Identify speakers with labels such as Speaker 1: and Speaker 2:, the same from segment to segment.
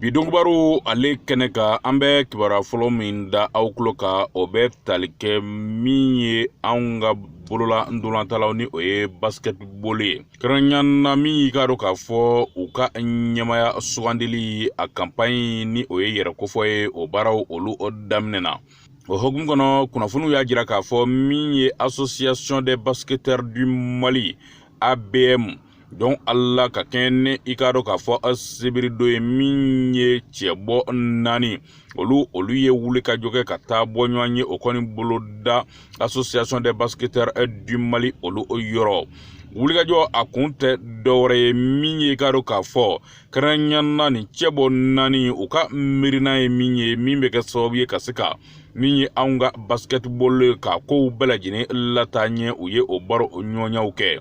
Speaker 1: bi donkibaru ale kɛnɛ kan an bɛ kibaruya fɔlɔ min da aw tulo kan o bɛ tali kɛ min ye anw ka bolola ntolantalaw ni o ye basketball ye kɛrɛnkɛrɛnya na min y'i k'a dɔn k'a fɔ u ka ɲɛmaya sugandili a kanpaɲi ni o ye yɛrɛ kofɔ ye o baaraw olu daminɛna o hukumu kɔnɔ kunnafoniw y'a jira k'a fɔ min ye association des basketteurs du mali abm donc ala ka kɛɲɛ ni i k'a dɔn k'a fɔ sibiri don ye min ye cɛbɔ naani olu olu ye wulikajɔ kɛ ka taa bɔ ɲɔgɔn ye o kɔni boloda association des basketteurs du mali olu yɔrɔ wulikajɔ a kun tɛ dɔwɛrɛ ye min ye i k'a dɔn k'a fɔ kɛrɛnkɛrɛnnenya na nin cɛbɔ naani u ka miirina ye min ye min bɛ kɛ sababu ye ka se ka min ye anw ka basketball ka kow bɛɛ lajɛlen lataa ɲɛ u ye o baroɲɔgɔnyaw kɛ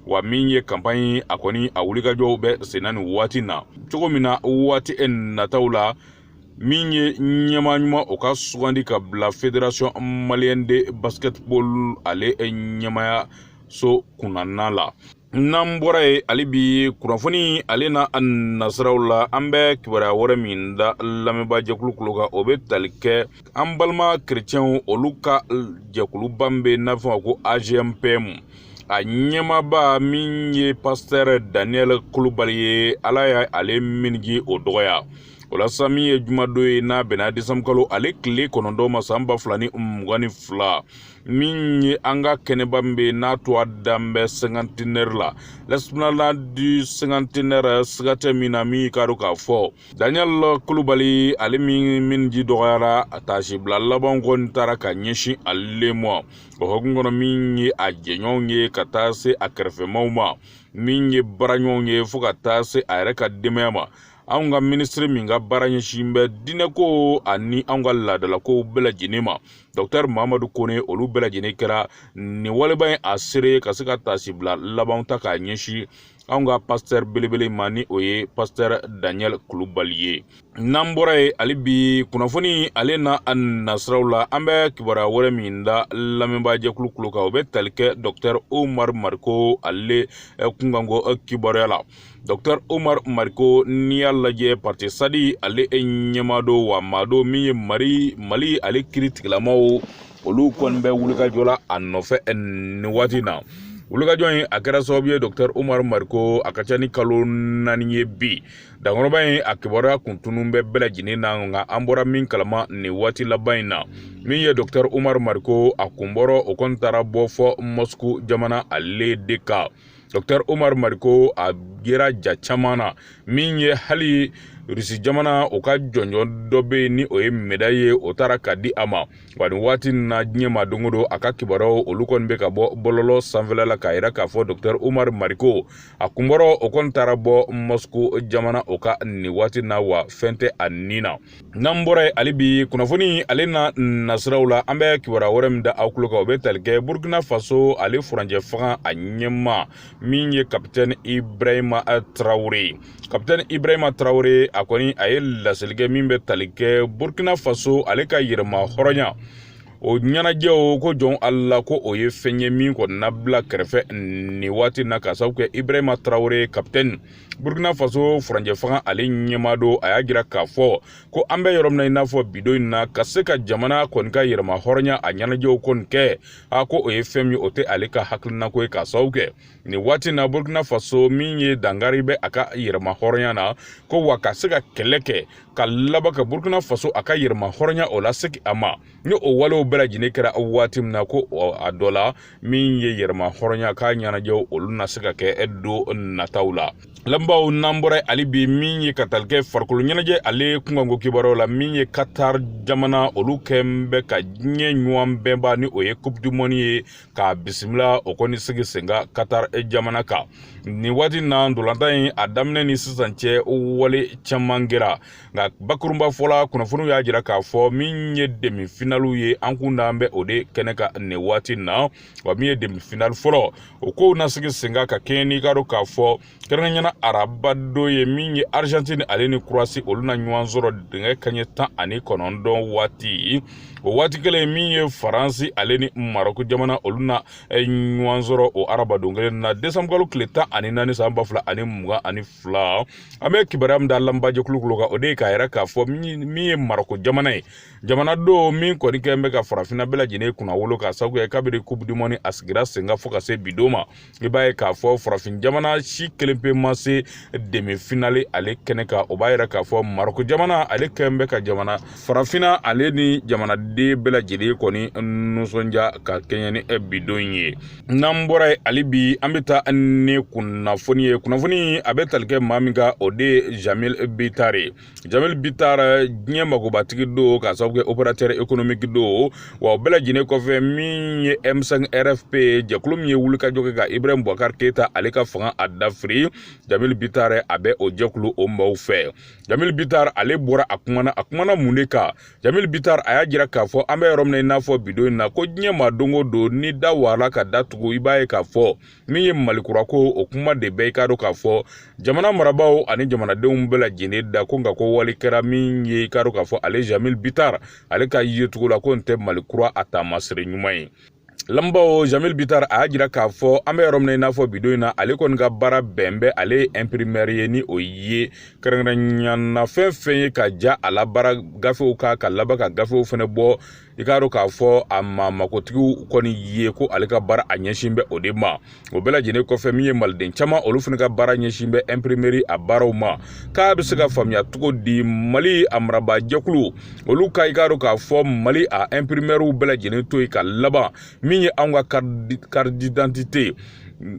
Speaker 1: wa min ye kanpaɲi a kɔni a wulikajɔw bɛ senna nin waati na cogo min na waati e nataw la min ye ɲɛmaa ɲuman o ka sugandi ka bila federation malienne de basketball ale ɲɛmaya so kunnana la n'an bɔra yen hali bi kunnafoni ale n'a nasiraw la an bɛ kibaruya wɛrɛ min da lamɛnbaajɛkulu kulo kan o bɛ tali kɛ an balima kerecɛnw olu ka jɛkuluba min bɛ n'a fɔ ko agempem a ɲɛmaaba min ye pasitɛri daniel kulubali ye ala y'ale minji o dɔgɔya o la sa min ye jumadon ye n'a bɛnna desankalo ale tile kɔnɔntɔn ma san ba fila ni mugan ni fila min ye an ka kɛnɛba min bɛ n'a tɔgɔ dalen bɛ cinquantenaire la l'esplanade du cinquantenaire siga tɛ min na min y'i k'a dɔn k'a fɔ daniel kulubali ale min minji dɔgɔyara a taasibila laban kɔni taara ka ɲɛsin ale ma o hukumu kɔnɔ min ye a jɛɲɔgɔnw ye ka taa se a kɛrɛfɛmaw ma min ye baaraɲɔgɔnw ye fɔɔ ka taa se a yɛrɛ ka denbaya ma anw ka minisiri min ka baara ɲɛsin bɛ diinɛko ani anw ka laadalakow bɛɛ lajɛlen ma dɔktɛr mahamadu kone olu bɛɛ lajɛlen kɛra nin waleba ye a seere ka se ka taasibila laban ta k'a ɲɛsin anw ka pasitɛri belebele ma ni o ye pasitɛri daniel kulubali ye n'an bɔra yen hali bi kunnafoni ale n'a nasiraw la an bɛ kibaruya wɛrɛ min da lamɛnbaajɛkulu kulo kan o bɛ tali kɛ dɔktɛri omar mariko ale eh, kunkanko eh, kibaruya la dɔktɛri omar mariko n'i y'a lajɛ parti sadi ale ɲɛmaa don wa maa don min ye mari mali ale kiiri tigilamaaw olu kɔni bɛ wulikajɔ la a nɔfɛ eh, nin waati na wulikajɔ in a kɛra sababu ye dɔktɛr umar mariko a ka ca ni kalo naani ye bi dankɔrɔba in a kibaruya kun tunun bɛ bɛɛ lajɛlen na nka an bɔra min kalama nin waati laban in na min ye dɔktɛr umar mariko a kun bɔrɔ o kɔni taara bɔ fɔ mɔsku jamana ale de kan dɔktɛr omar mariko a yera ja caman na min ye hali rusi jamana o ka jɔnjɔn dɔ bɛ yen ni o ye medayi ye o taara ka di a ma wa nin waati na diɲɛ ma don o don a ka kibaruyaw olu kɔni bɛ ka bɔ bɔlɔlɔ sanfɛla la k'a yira k'a fɔ dɔktɛr omar mariko a kun bɔra o kɔni taara bɔ mɔsiko jamana o ka nin waati na wa fɛn tɛ a ni na n'an bɔra yen hali bi kunnafoni ale na nasiraw la an bɛ kibaruya wɛrɛ min da aw tulo kan o bɛ tali kɛ burkina faso ale furancɛ fanga a ɲɛmaa min ye kapitɛni ibrahima tarawele kapitɛni ibrahima tarawele a kɔni a ye laseli kɛ min bɛ tali kɛ burkina faso ale ka yɛrɛma hɔrɔnya o ɲɛnajɛw ko jɔn ala ko o ye fɛn ye min kɔni na bila kɛrɛfɛ nin waati na k'a sabu kɛ ibrahima tarawele kapitɛni burkina faso furancɛ fanga ale ɲɛmaa don a y'a jira k'a fɔ ko an bɛ yɔrɔ min na i n'a fɔ bidon in na ka se ka jamana kɔni ka yɛrɛma hɔrɔnya a ɲɛnajɛw kɔni kɛ a ko o ye fɛn min o tɛ ale ka hakilinako ye k'a sabu kɛ nin waati in na burkina faso min ye dankari bɛ a ka yɛrɛma hɔrɔnya na ko wa ka se ka kɛlɛ kɛ ka laban ka burkina faso a ka yɛrɛma hɔrɔnya o lasegin a ma ni o walew bɛɛ lajɛlen kɛra waati min na ko a dɔ la min ye yɛrɛma hɔrɔnya k'a ɲɛnajɛw olu na se ka kɛ don nataw la lamɛnbaaw n'an bɔra yen hali bi min ye ka tali kɛ farikolo ɲɛnajɛ ale kunkanko kibaruyaw la min ye katar jamana olu kɛlen bɛ ka diɲɛ ɲɔgɔn bɛnba ni o ye coupe du monde ye k'a bisimila o kɔni sigi sen kan katar jamana kan nin waati na ntolatan in a daminɛ ni sisan cɛ wale caman kɛra nka bakurunba fɔla kunnafoniw y'a jira k'a fɔ min ye demi finaliw ye an kun dalen bɛ o de kɛnɛ kan nin waati na wa min ye demi finali fɔlɔ o kow na sigi sen kan ka kɛɲɛ n'i k'a dɔn k'a fɔ kɛrɛnkɛrɛnya na araba don ye min ye arizantini ale ni kurowasi olu na ɲɔgɔn sɔrɔ nɛgɛ kanɲɛ tan ani kɔnɔntɔn waati o waati kelen min ye faransi ale ni marɔku jamana olu na eh, ɲɔgɔn sɔrɔ o arabadon kelen na desanbukalo tile tan ani naani san ba fila ani mugan ani fila an bɛ kibaruya min da lamɛnbaa jɛkulu kulo kan o de ye k'a yira k'a fɔ min ye marɔku jamana ye jamana don min kɔni kɛlen bɛ ka farafinna bɛɛ lajɛlen kunnawolo k'a sabu kɛ kabiri coupe du monde a sigira sen kan fo ka se bi don ma i b'a ye k'a fɔ farafin jamana si kelen pe ma se demi finale ale kɛnɛ kan o b'a yira k'a fɔ marɔku jamana ale kɛlen bɛ ka jamana farafinna ale ni jamanaden bɛɛ lajɛlen kɔni nisɔndiya ka kɛɲɛ ni bidon in ye n'an bɔra yen hali bi an bɛ taa ni kunnafoni ye kunnafoni a bɛ tali kɛ maa min kan o de ye jamil bitar ye jamil bitar diɲɛ magobatigi don k'a sababu kɛ opérateur économique don wa o bɛɛ lajɛlen kɔfɛ min ye m5 rfp jɛkulu min ye wulikajɔ kɛ ka ibrahim bubakar keyita ale ka fanga a dafiri jamil bitar a bɛ o jɛkulu o maaw fɛ jamil bitar ale bɔra a kumana a kumana mun de kan jamil bitar a y'a jira k'a fɔ an bɛ yɔrɔ min na i n'a fɔ bidon in na ko diɲɛ maa don o don ni da waala ka da tugu i b'a ye k'a fɔ min ye malikura ko o kuma de bɛ i k'a dɔn k'a fɔ jamana marabaaw ani jamanadenw bɛɛ lajɛlen da ko nka ko wale kɛra min ye i k'a dɔn k'a fɔ ale jamil bitar ale ka yecogo la ko nin tɛ malikura a taamasere ɲuman ye lamɛnbaaw jamil bitar a y'a jira k'a fɔ an bɛ yɔrɔ min na i n'a fɔ bidon in na ale kɔni ka baara bɛn bɛ ale ye imprimɛri ye ni o ye kɛrɛnkɛrɛnya na fɛn fɛn ye ka ja a labaara gafew ka ka laban ka gafew fɛnɛ bɔ i k'a dɔn k'a fɔ a ma makotigiw kɔni ye ko ale ka baara a ɲɛsin bɛ o de ma o bɛɛ lajɛlen kɔfɛ min ye maliden caman olu fana ka baara ɲɛsin bɛ imprimeri a baaraw ma k'a bɛ se ka faamuya cogo di mali a marabaa jɛkulu olu ka i k'a dɔn k'a fɔ mali a imprimɛriw bɛɛ lajɛlen to yen ka laban min ye anw ka karididantite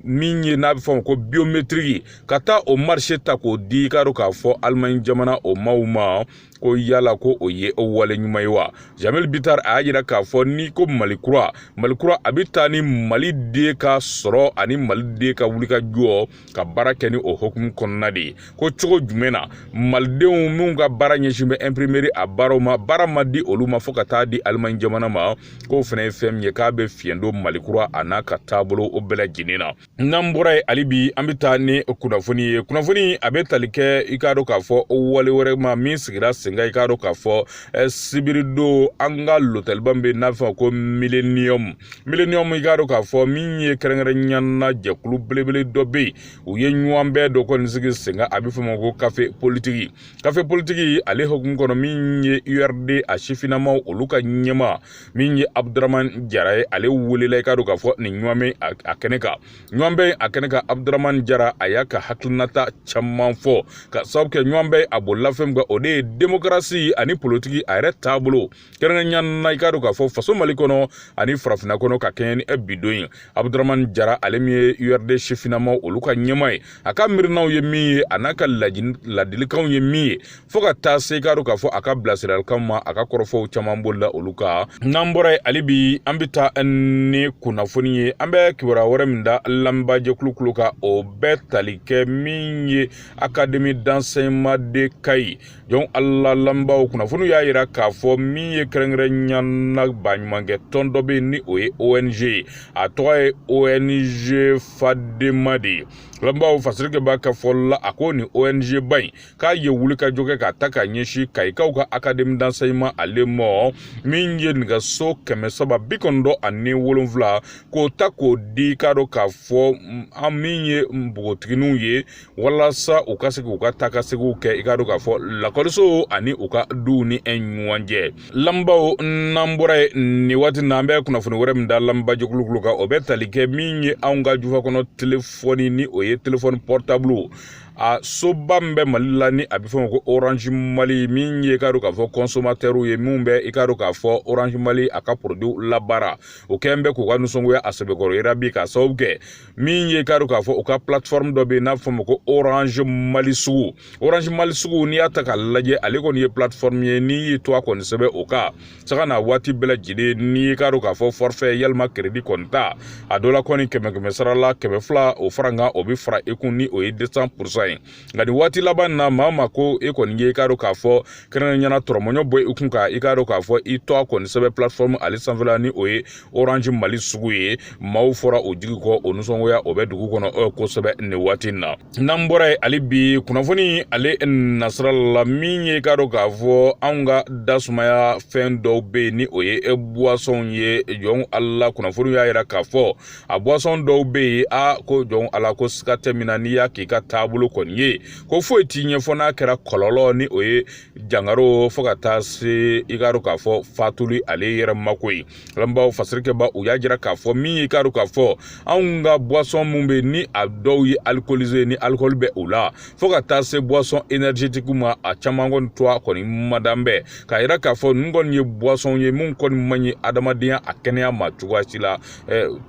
Speaker 1: min ye n'a bɛ fɔ o ma ko biometiriki ka taa o marise ta k'o di i k'a dɔn k'a fɔ alimaɲi jamana o maaw ma ko yala ko o ye o wale ɲuman ye wa jamil bitar a y'a jira k'a fɔ ni ko mali kura mali kura a bɛ taa ni maliden ka sɔrɔ ani maliden ka wulikajɔ ka baara kɛ ni o hukumu kɔnɔna de ye ko cogo jumɛn na malidenw minnu ka baara ɲɛsin bɛ imprimeri a baaraw ma baara ma di olu ma fo ka taa di alimaɲi jamana ma k'o fana ye fɛn min ye k'a bɛ fiɲɛ don mali kura a n'a ka taabolo o bɛɛ lajɛlen na n'an bɔra yen hali bi an bɛ taa ni kunnafoni ye kunnafoni a bɛ tali kɛ i k'a dɔn k'a fɔ wale wɛrɛ ma min sigira senkan i k'a dɔn k'a fɔ eh, sibiridon an ka lotɛliba min bɛ n'a bɛ fɔ o ma ko millennium millennium i k'a dɔn k'a fɔ min ye kɛrɛnkɛrɛnya na jɛkulu belebele dɔ bɛ yen u ye ɲɔgɔnbɛn dɔ kɔni sigi senkan a bɛ fɔ o ma ko kafe politiki kafe politiki ale hukumu kɔnɔ min ye urd a sifinnamaw olu ka ɲɛmaa min ye abuduraman jara ye ale welela i k'a dɔn k'a fɔ nin ɲɔgɔnbɛn a kɛnɛ kan ɲɔgɔnbɛn a kɛnɛ kan abuduraman jara a y'a ka hakilinata caman fɔ ka sababu kɛ ɲɔgɔnbɛn a bolila fɛn min kan o de ye demokarasi ani politiki a yɛrɛ taabolo kɛrɛnkɛrɛnya na i k'a dɔn k'a fɔ faso mali kɔnɔ ani farafinna kɔnɔ ka kɛɲɛ ni e bidon ye abuduraman jara ale min ye urd sifinnamaw olu ka ɲɛmaa ye a ka miirinaw ye min ye a n'a ka ladilikanw ye min ye fo ka taa se i k'a dɔn k'a fɔ a ka bilasiralikan ma a ka kɔrɔfɔw caman bolila olu kan n'an bɔra yen hali bi an bɛ taa ni kunnafoni ye an bɛ kibaruya wɛrɛ min da lamɛnbaajɛkulu tulo kan o bɛ tali kɛ min ye akademi d'enseignement de kayi jɔn ala lamɛnbaaw kunnafoniw y'a jira k'a fɔ min ye kɛrɛnkɛrɛnya na baɲumankɛ tɔn dɔ bɛ yen ni o ye ong ye a tɔgɔ ye ong fandeema de ye lamɛnbaaw fasirikɛ b'a ka fɔ la a ko nin ong ba in k'a ye wulikajɔ kɛ k'a ta k'a ɲɛsin kayikaw ka académie d'enseignement ale ma min ye nɛgɛso kɛmɛ saba bi kɔnɔntɔn ani wolonfila k'o ta k'o di i k'a dɔn k'a fɔ an min ye npogotigininw ye walasa u ka se k'u ka taakasegiw kɛ i k'a dɔn k'a fɔ lakɔliso ani u ka duw ni ɲɔgɔn cɛ lamɛnbaaw n'an bɔra yen nin waati na an bɛ kunnafoni wɛrɛ min da lamɛnba jɛkulu kulo kan o bɛ tali kɛ min ye anw ka jufa kɔnɔ telefɔni ni o ye telefɔni pɔrɔtabulu a soba min bɛ mali la ni a bɛ fɔ o ma ko orange mali min ye i k'a dɔn k'a fɔ kɔnsɔmatɛriw ye minnu bɛ i k'a dɔn k'a fɔ orange mali a ka porodiw labaara o kɛlen bɛ k'u ka nisɔngoya a sɛbɛkɔrɔ yira bi k'a sababu kɛ min ye i k'a dɔn k'a fɔ u ka platform dɔ bɛ yen n'a bɛ fɔ o ma ko orange mali sugu orange mali sugu n'i y'a ta k'a lajɛ ale kɔni ye platform ye n'i y'i tɔgɔ a kɔni sɛbɛn o kan sanga ni waati bɛɛ lajɛlen n'i k'a dɔn k'a fɔ fɔrifɛ yalima keredi kɔni ta a dɔ la kɔni kɛmɛ kɛmɛ sara la kɛmɛ fila o fara kan o bɛ fara i kun ni o ye desan purusan ye nka nin waati laban na maa ma ko e kɔni ye i k'a dɔn k'a fɔ kɛrɛnkɛrɛnnenya na dɔrɔmɛ mugan bɔ i kun ka i k'a dɔn k'a fɔ i tɔgɔ a kɔni sɛbɛn platform ale sanfɛla ni o ye orange mali sugu ye maaw fɔra u jigi kɔ o nisɔngoya o bɛ dugu kɔnɔ eh, kosɛbɛ nin waati in na n'an bɔra yen hali bi kunnafoni ale nasira la min ye k'a dɔn k'a fɔ anw ka dasumaya fɛn dɔw bɛ yen ni o ye eh, buwasɔnw ye jɔn ala kunnafoni y'a yira k'a fɔ a buwasɔn dɔw bɛ yen a ko jɔn ala ko siga tɛ min na n'i y'a k'i ka taabolo kɔni ye ko foyi t'i ɲɛ fo n'a kɛra kɔlɔlɔ ni o ye jangaro fo ka taa se i k'a dɔn k'a fɔ fatuli ale yɛrɛ ma ko ye lamɛnbaaw fasirikɛbaw y'a jira k'a fɔ min y'i k'a dɔn k'a fɔ anw ka boisson min bɛ ni a dɔw ye alcoolisé ni alcool bɛ u la fo ka taa se boisson énergétique ma a caman kɔni tɔgɔ a kɔni madan bɛ k'a jira k'a fɔ ninnu kɔni ye boisson ye min kɔni man ɲi adamadenya a kɛnɛya ma cogoya si la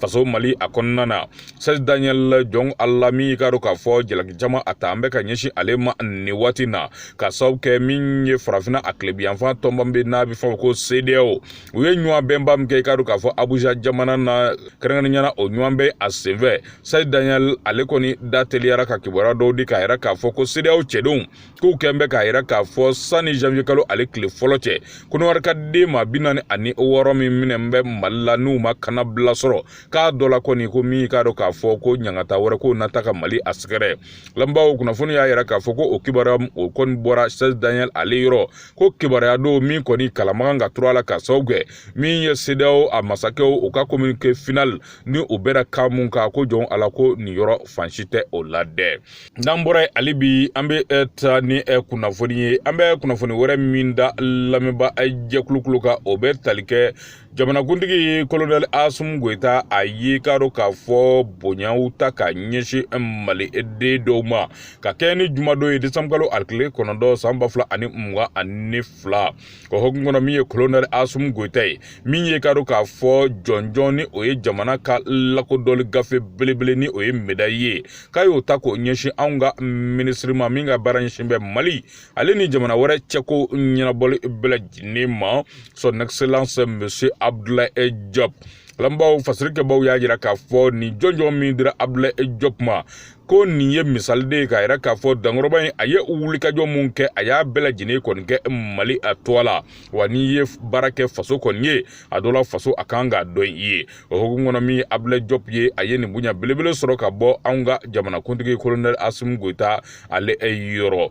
Speaker 1: faso mali a kɔnɔna na serge daniel jɔn ala min i k'a dɔn k'a fɔ jalaki caman a talen bɛ ka ɲɛsin ale ma nin waati na k'a sababu kɛ min ye farafina a tilebinyanfan tɔnba bɛ n'a bɛ fɔ o ma ko cedeao u ye ɲɔgɔnbɛnba min kɛ i k'a dɔn k'a fɔ abuja jamana na kɛrɛnkɛrɛnnenya na o ɲɔgɔnbɛn a senfɛ serge daniel ale kɔni da teliyara ka kibaruya dɔw di k'a yira k'a fɔ ko cedeao cɛdenw k'u kɛn bɛ k'a yira k'a fɔ sanni janvier kalo ale tile fɔlɔ cɛ kɔnɔwari ka den maa bi naani ani wɔɔrɔ min minɛn bɛ mali la n'u ma kannabila sɔrɔ k'a dɔ la kɔni ko min y'i k'a dɔn k'a fɔ ko ɲangata wɛrɛ k'u na ta ka mali a sɛgɛrɛ lamɛnbaaw kunnafoni y'a yira k'a fɔ ko o kibaruya o kɔni bɔra serge daniel ale yɔrɔ ko kibaruya don min kɔni kalamakan ka tura la k'a sababu kɛ min ye cedeao a masakɛw u ka communiqué final ni u bɛra kan min kan ko jɔn ala ko nin yɔrɔ fan si tɛ o la dɛ n'an bɔra yen hali bi an bɛ eh, taa ni eh, kunnafoni ye an bɛ kunnafoni wɛrɛ min da lamɛnba eh, jɛkulu kulo kan o bɛ tali kɛ jamanakuntigi kolonɛli asimi goyita a ye k'a dɔn k'a fɔ bonyaw ta ka ɲɛsin mali den dɔw ma ka kɛɲɛ ni jumadon ye desanburukalo a kile kɔnɔntɔn san ba fila ani mugan ani fila o hokumu kɔnɔ min ye kolonɛli asimi goyita ye min ye k'a dɔn k'a fɔ jɔnjɔn ni o ye jamana ka lakodɔnni gafe belebele ni o ye medayi ye k'a y'o ta k'o ɲɛsin anw ka minisiri ma min ka baara ɲɛsin bɛ mali ale ni jamana wɛrɛ cɛko ɲɛnabɔli bɛɛ lajɛlen ma son excellence monsieur abdoulaye diop kalanbaaw fasirikɛbaaw y'a jira k'a fɔ nin jɔnjɔn min dira abdoulaye diop ma ko nin ye misali de ye k'a yira k'a fɔ dankɔrɔba in a ye wulikajɔ min kɛ a y'a bɛɛ lajɛlen kɔni kɛ mali a tɔɔ la wa n'i ye baara kɛ faso kɔni ye a dɔ la faso a kan k'a dɔn i ye o hokumu kɔnɔ min ye abdoulaye diop ye a ye nin bonya belebele sɔrɔ ka bɔ anw ka jamanakuntigi kolonɛli asimi goyita ale yɔrɔ